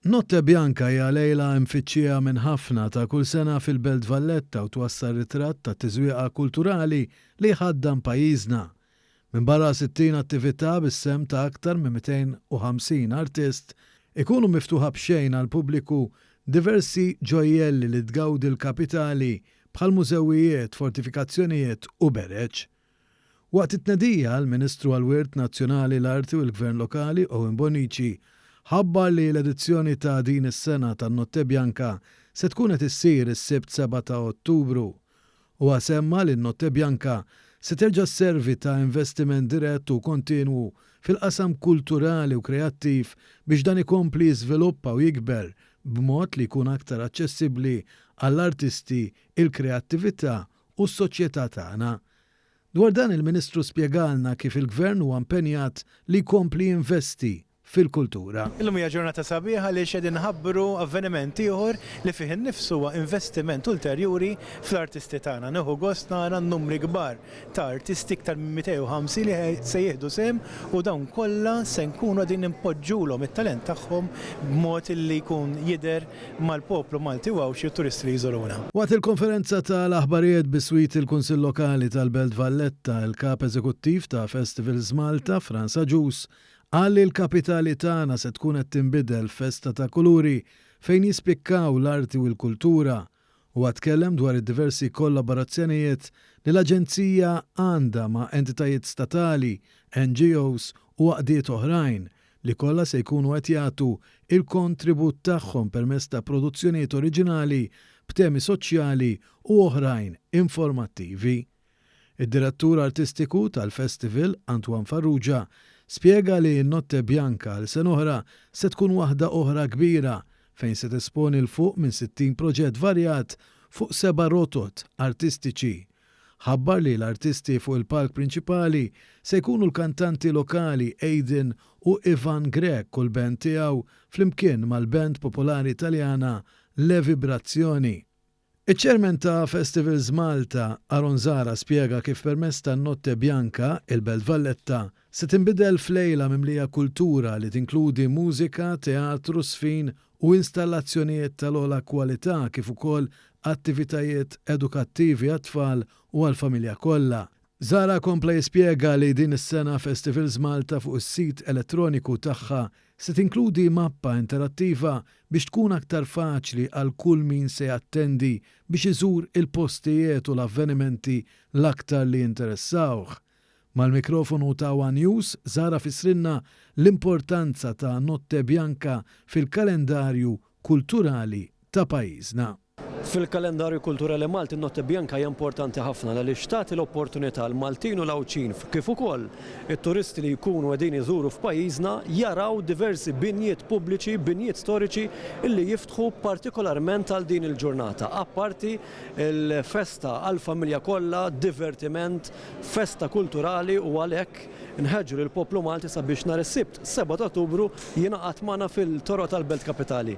Notte Bianca hija lejla mfittxija minn ħafna ta' kull sena fil-Belt Valletta u twassal ritratt ta' tiżwieqa kulturali li jħaddan pajjiżna. Minbarra 60 attività bis-sehem ta' aktar minn 250 artist, ikunu miftuħa b'xejn għall-pubbliku diversi ġojjelli li tgawdi l-kapitali bħal mużewijiet, fortifikazzjonijiet u bereġ. Waqt it-tnedija, l-Ministru għall-Wirt Nazzjonali, l-Arti u l-Gvern Lokali, Owen Bonnici, ħabbar li l-edizzjoni ta' din is-sena tan-Notte Bianca se tkun qed issir is-Sibt 7 ta' Ottubru. Huwa semma li n-Notte Bianca se terġa' sservi ta' investiment dirett u kontinwu fil-qasam kulturali u kreattiv biex dan ikompli jiżviluppa u jikber b'mod li jkun aktar aċċessibbli għall-artisti, il-kreattività u s-soċjetà tagħna. Dwar dan il-Ministru spjegalna kif il-Gvern huwa impenjat li jkompli jinvesti fil-kultura. Illum hija ġurnata sabiħa għaliex qegħdin nħabbru avveniment ieħor li fih innifsu huwa investiment ulterjuri fl-artisti tagħna. Nieħu gost nara n-numri kbar ta' artisti, iktar minn 250 li se jieħdu sehem u dawn kollha se nkunu qegħdin inpoġġulhom it-talent tagħhom b'mod li jkun jidher mal-poplu Malti u Għawdxi u t-turisti li jżuruna. Waqt il-konferenza ta' l-aħbarijet biswit il-Kunsill Lokali tal-Belt Valletta, il-Kap Eżekuttiv ta' Festivals Malta, Frans Agius, qal li l-kapitali tagħna se tkun qed tinbidel f'festa ta' kuluri fejn jispikkaw l-arti u l-kultura. Huwa tkellem dwar id-diversi kollaborazzjonijiet li l-Aġenzija għandha ma' entitajiet statali, NGOs u għaqdiet oħrajn li kollha se jkunu qed jagħtu l-kontribut tagħhom permezz ta' produzzjonijiet oriġinali b'temi soċjali u oħrajn informattivi. Id-Direttur Artistiku tal-Festival, Antoine Farrugia, spjega li Notte Bianca għal sen'oħra se tkun waħda oħra kbira fejn se tesponi 'l fuq minn 60 proġett varjat fuq seba' rotot artistiċi ħabbar li l-artisti fuq il-palk prinċipali se jkunu l-kantanti lokali Aiden u Ivan Grech u l-band tiegħu flimkien mal-band popolari Taljana Le Vibrazioni. Iċ-Chairman ta' Festivals Malta, Aaron Zahra spjega kif permezz ta' Notte Bianca, il-Belt Valletta se tinbidel f'lejla mimlija kultura li tinkludi mużika, teatru, żfin u installazzjonijiet tal-ogħla kwalità kif ukoll attivitajiet edukattivi għat-tfal u għall-familja kollha. Zahra kompla jispjega li din is-sena Festivals Malta fuq is-sit elettroniku tagħha se tinkludi mappa interattiva biex tkun aktar faċli għal kull min se jattendi biex iżur il-postijiet u l-avvenimenti l-aktar li jinteressawh Mal-mikrofonu ta' one News, Zahra fissrilna l-importanza ta' Notte Bianca fil-kalendarju kulturali ta' pajjiżna. Fil-kalendarju kulturali Malti n-Notte Bianca hija importanti ħafna għaliex tagħti l-opportunità għal Maltin u l-Għawdxin kif ukoll it-turisti li jkunu qegħdin iżuru f'pajjiżna jaraw diversi binjiet pubbliċi, binjiet storiċi li jiftħu partikolarment għal din il-ġurnata apparti Il-festa għall-familja kollha, divertiment, festa kulturali u għalhekk nħeġġu lill-poplu Malti sabiex nhar is-Sibt 7 ta' Ottubru jingħaqad magħna fil-toroq tal-Belt Kapitali.